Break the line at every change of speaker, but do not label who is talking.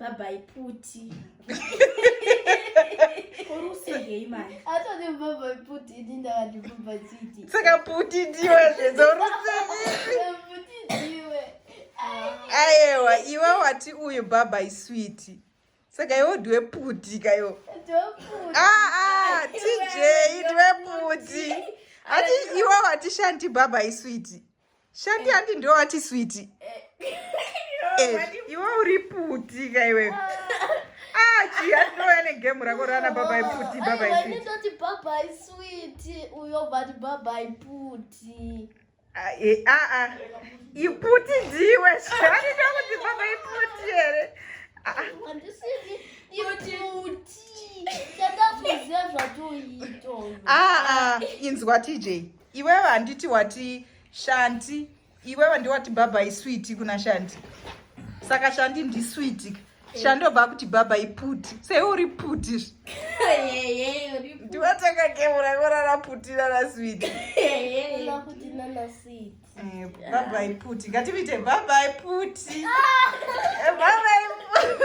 Babai puti.
Korusegei
manje. Atone babai puti ini ndakati
babai chiti. Saka puti ndiwe zvezorusegei. Puti ndiwe.
Ayewa
iwe wati uyu babai switi. Saka iwe ndiwe puti kayo. Ndoputi. Ah ah TJ ndiwe puti. Ati iwe wati shanti babai switi. Shandi eh. handi ndiwo ati switi. Eh. Eh, iwe uri puti ka iwe. Ah, chi atinoya negemu rako rana baba iputi baba iputi. Ndinoti baba
iswiti uyo vati baba iputi. Ah, eh, ah, ah.
Iputi ndiwe shandi ndokuti baba iputi here. Ah, ah.
Handiswiti iputi. Chandazviziva zvatoito. Ah, ah,
inzwa TJ. Iwewe handiti wati shanti iwewe ndiwati bhabha iswiti kuna shanti saka shandi ndiswiti ka shandobva kuti baba iputi sei uri puti ndivatakakemurakorara puti nanaswiti eh,
baba
iputi ngativiite baba iputi eh, baba iputi